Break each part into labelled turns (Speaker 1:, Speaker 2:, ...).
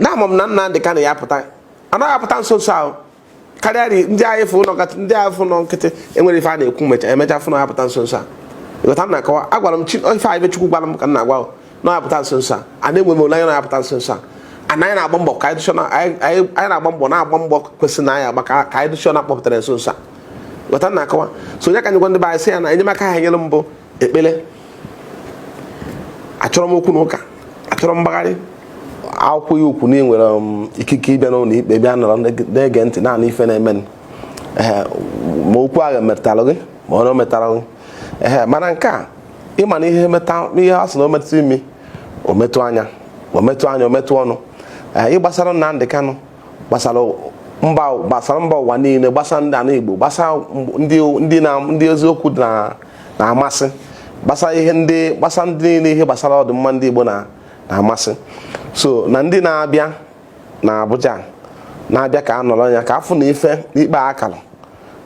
Speaker 1: na ama m na Nnamdị Kanụ ya apụta na ya-apụta nso nso a karịa ndị anyị fụ ụlọ ndị anyị fụ nọ nkịtị enwere ife a na-ekwu mecha emecha fụ na apụta nso nso a ịghọta m na-akọwa agwara m ife anyị Chukwu gwara m ka m na-agwa na apụta nso nso a a na-enwe m olileanya na-apụta nso nso a ana anyị na-agba mbọ ka anyị na-agba mbọ na-agba mbọ kwesịrị na anyị agba ka anyị dụ sure na akpọpụtara nso nso a ịghọta m na-akọwa so ọ ya ka m ji agwa ndị be anyị sị ya na enyemaka ha nyere m bụ ekpere achọrọ m okwu na ụka achọrọ m mgbagharị akwụkwọ iwu kwu na i nwere um, ikike ịbịa n'ụlọ ikpe bịa nọrọ na-ege ntị na-anụ ife na-eme ma okwu ahụ metara gị ma ọ metara gị ee mana nke a ị ma na ihe ihe a sị na o metụ imi o metụ anya o metụ anya o metụ ọnụ ihe gbasara Nnamdị Kanụ gbasara mba gbasara mba ụwa niile gbasara ndị ana Igbo gbasara ndị na ndị eziokwu na-amasị gbasara ihe ndị gbasara ndị niile ihe gbasara ọdịmma ndị Igbo na-amasị so na ndị na-abịa na Abuja na-abịa ka a nọrọ ya ka a fụ na ife n'ikpe a kara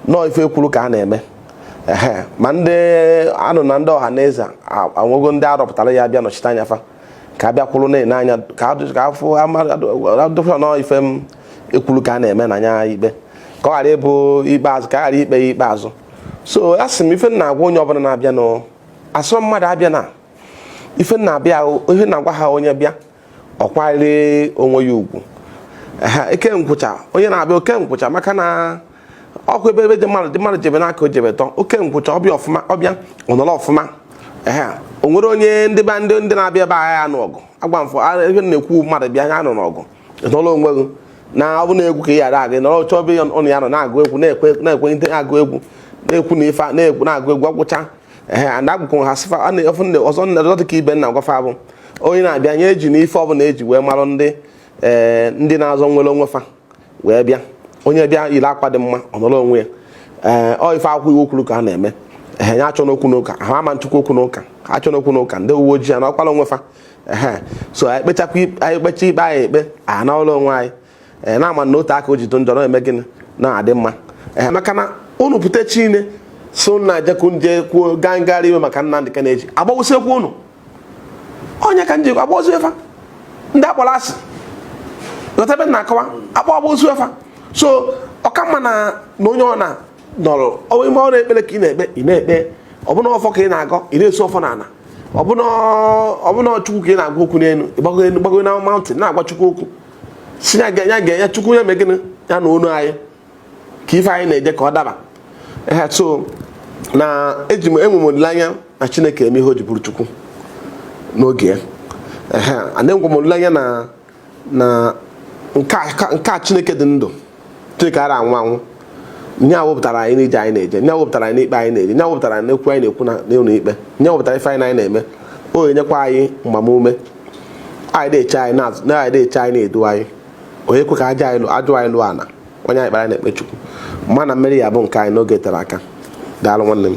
Speaker 1: na ọ ife iwu kwuru ka a na-eme ma ndị anụ na ndị Ọhanaeze enwego ndị a rọpụtara ya-abịa nọchite anya fa ka a bịa kwụrụ na-ene anya ka a fụ a dụ sure na ọ ife iwu kwuru ka a na-eme na nya ikpe ka ọ ghara ịbụ ikpe azụ ka a ghara ikpe ya ikpe azụ so a sị m ife m na-agwa onye ọbụla na-abịa na asịrọ mmadụ abịana ife na-abịa ihe na-agwa ha onye bịa ọ kwanyere onwe ya ugwu o kee nkwụcha onye na-abịa o kee nkwụcha maka na ọkụ ebe ebe dị mmadụ dị mmadụ jebe n'aka o jebe tọ o kee nkwụcha ọ bịa ọfụma ọ bịa ọ nọrọ ọfụma ehe o nwere onye ndị be ndị ndị na-abịa ebe a ga ya-anụ ọgụ agwa m fa ebe na-ekwu mmadụ bịa ya anụna ọgụ nọrọ onwe gị na ọ bụ na-egwu ka ị ghara agị nọrọ chọọ ebe unu ya nọ na-agụ egwu na-ekwe na-ekwe ndị na-agụ egwu na-ekwu na ife na-ekwu na-agụ egwu a gụcha ehe a na-agụkwu ha sị fa a na-efu ndị ọzọ nna ọzọ dịka ife m na-agwa fa bụ onye na-abịa ya ejina ife ọbụla eji wee marụ ndị ee ndị na-azọ nnwere onwe fa wee bịa onye bịa yiri akwa dị mma ọ nọrọ onwe ya ee ọ ife akwụkwọ iwu kwuru ka a na-eme ehe ya achọna okwu n'ụka ha ama nchukwu okwu n'ụka ha achọna okwu n'ụka ndị uwe ojii anọrọkwa onwe fa ehe so anyị kpechakwa anyị kpecha ikpe anyị ekpe a na ụlọ onwe anyị ee na-ama na o tee aka o ji dị njọ na-eme gịnị na-adị mma ehe maka na unu pụta chine so na jekwu ndị kwuo gaa ngagharị iwe maka Nnamdi Kanu e ji agbagbusikwa unu ọ ya ka e jikwa agbagbusi fa ndị a kpọrọ asị ghọta ife m na-akọwa akpọ agbagbusi fa so ọ ka mma na na onye ọna nọrọ onwe ya ma ọ bụ ekpere ka ị na-ekpe ị na-ekpe ọ bụ na ọfọ ka ị na-agọ ị na-esu ọfọ n'ala ọ bụ na chukwu ka ị na-agwa okwu n'elu ị gbago elu gbago na mountain na-agwa chukwu okwu sị ya gwa ya chukwu ya mee gịnị ya nụ onu anyị ka ife anyị na-eje ka ọ daba ehe so na eji m enwe m olileanya na chineke eme ihe o ji bụrụ chukwu n'oge ya ehe and enwe m olileanya na na nke a- ka- nke a chineke dị ndụ chineke ara anwụ anwụ nye awụpụtara anyị n'ije anyị na-eje nye awụpụtara anyị n'ikpe anyị na-eje nye awụpụtara anyị n'okwu anyị na-ekwu na n'ụlọ ikpe nye awụpụtara ife anyị na anyị na-eme o enyekwa anyị mgbamume anyị na-eche anyị na-azụ na anyị na-eche anyị na-edu anyị onye kwe ka aja anyị lụ- ajụ anyị lụọ ana onye anyị kpara na-ekpe chukwu mana mmeri ya-abụ nke anyị n'oge etera aka daalụ nwanne m